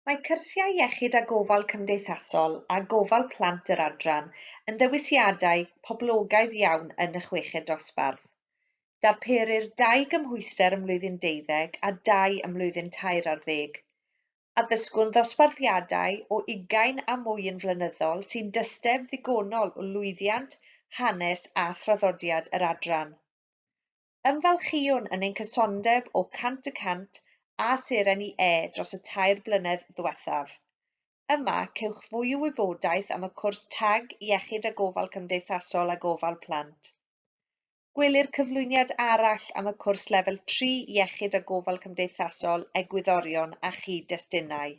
Mae cyrsiau iechyd a gofal cymdeithasol a gofal plant yr adran yn ddewisiadau poblogaidd iawn yn y chweched dosbarth. Darperir dau gymhwyster ym mlwyddyn deuddeg a dau ym mlwyddyn tair ar ddeg. Addysgwn ddosbarthiadau o ugain a mwy yn flynyddol sy'n dysteb ddigonol o lwyddiant, hanes a thraddodiad yr adran. Ymfalchïwn yn ein cysondeb o cant y cant â Seren i E dros y tair blynedd ddiwethaf. Yma, cewch fwy o wybodaeth am y cwrs tag Iechyd a Gofal Cymdeithasol a Gofal Plant. Gwelir cyflwyniad arall am y cwrs Lefel 3 Iechyd a Gofal Cymdeithasol, Egwyddorion a Chyd-destunau.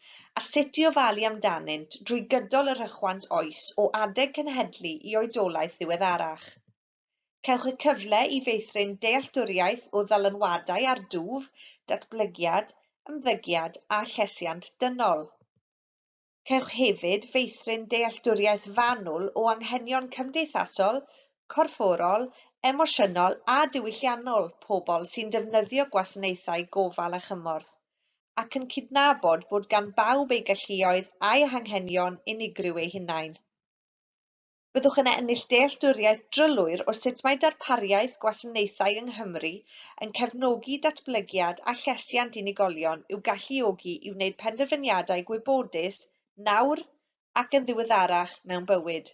a sut i ofalu amdanynt drwy gydol y rhychwant oes o adeg cenhedlu i oedolaeth ddiweddarach. Cewch y cyfle i feithrin dealltwriaeth o ddylanwadau ar dwf, datblygiad, ymddygiad a llesiant dynol. Cewch hefyd feithrin dealltwriaeth fanwl o anghenion cymdeithasol, corfforol, emosiynol a diwylliannol pobl sy'n defnyddio gwasanaethau gofal a chymorth, ac yn cydnabod bod gan bawb eu galluoedd a'u hanghenion unigryw eu hunain. Byddwch yn ennill dealltwriaeth drylwyr o sut mae darpariaeth gwasanaethau yng Nghymru yn cefnogi datblygiad a llesiant unigolion i'w galluogi i wneud penderfyniadau gwybodus nawr ac yn ddiweddarach mewn bywyd.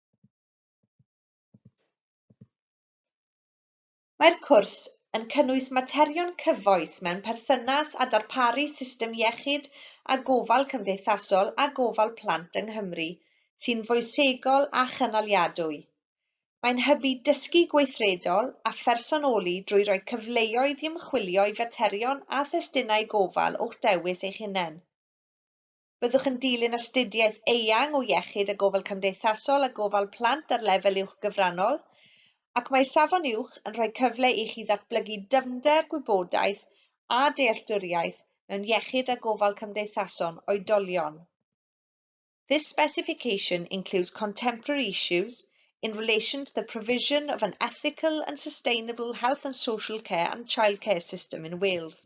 Mae'r cwrs yn cynnwys materion cyfoes mewn perthynas â darparu system iechyd a gofal cymdeithasol a gofal plant yng Nghymru sy'n foesegol a chynaliadwy. Mae'n hybu dysgu gweithredol a phersonoli drwy roi cyfleoedd i ymchwilio i faterion a thestunau gofal o'ch dewis eich hunain. Byddwch yn dilyn astudiaeth eang o iechyd a gofal cymdeithasol a gofal plant ar lefel uwch gyfrannol, ac mae Safon Uwch yn rhoi cyfle i chi ddatblygu dyfnder, gwybodaeth a dealltwriaeth mewn iechyd a gofal cymdeithason oedolion. This specification includes contemporary issues in relation to the provision of an ethical and sustainable health and social care and childcare system in Wales.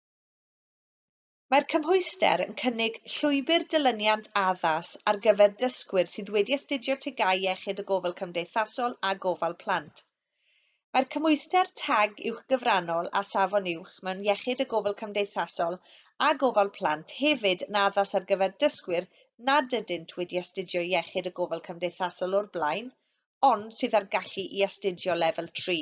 Mae'r cymhwyster yn cynnig llwybr dilyniant addas ar gyfer dysgwyr sydd wedi astudio TGAU Iechyd a Gofal Cymdeithasol a Gofal Plant. Mae'r cymhwyster tag uwchgyfrannol a safon uwch mewn Iechyd a Gofal Cymdeithasol a Gofal Plant hefyd yn addas ar gyfer dysgwyr nad ydynt wedi astudio Iechyd a Gofal Cymdeithasol o'r blaen ond sydd â'r gallu i astudio Lefel Tri.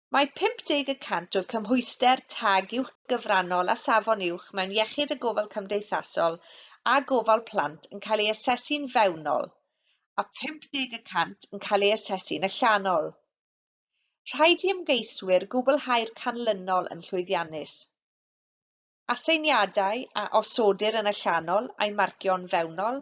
Mae 50 y cant o'r cymhwyster tag uwchgyfrannol a safon uwch mewn iechyd a gofal cymdeithasol a gofal plant yn cael ei asesu'n fewnol a 50 y cant yn cael ei asesu'n allanol. Rhaid i ymgeiswyr gwblhau'r canlynol yn llwyddiannus. Aseiniadau a osodir yn allanol a'u marcio'n fewnol.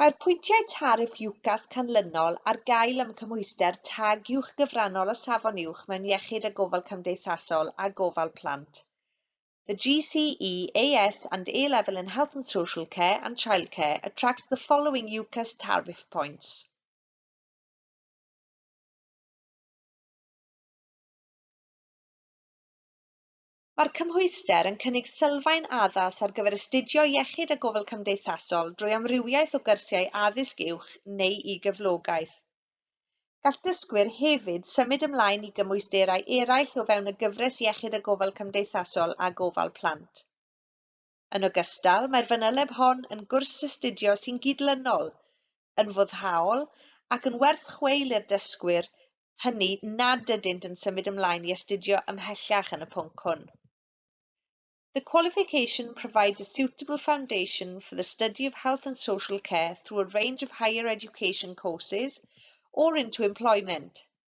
Mae'r pwyntiau tariff UCAS canlynol ar gael am cymhwyster tag uwch gyfrannol a safon uwch mewn iechyd a gofal cymdeithasol a gofal plant, the GCEAS and A-level in health and social care and childcare attract the following UCAS tariff points. Mae'r cymhwyster yn cynnig sylfaen addas ar gyfer astudio Iechyd a Gofal Cymdeithasol drwy amrywiaeth o gyrsiau addysg uwch neu i gyflogaeth. Gall dysgwyr hefyd symud ymlaen i gymwysterau eraill o fewn y gyfres Iechyd a Gofal Cymdeithasol a Gofal Plant. Yn ogystal, mae'r fanyleb hon yn gwrs astudio sy'n gydlynol, yn foddhaol ac yn werth chweil i'r dysgwyr hynny nad ydynt yn symud ymlaen i astudio ymhellach yn y pwnc hwn. The qualification provides a suitable foundation for the study of health and social care through a range of higher education courses or into employment.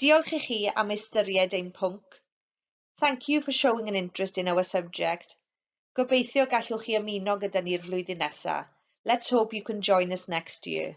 Diolch i chi am ystyried ein pwnc. Thank you for showing an interest in our subject. Gobeithio gallwch chi ymuno gyda ni'r flwyddyn nesa. Let's hope you can join us next year.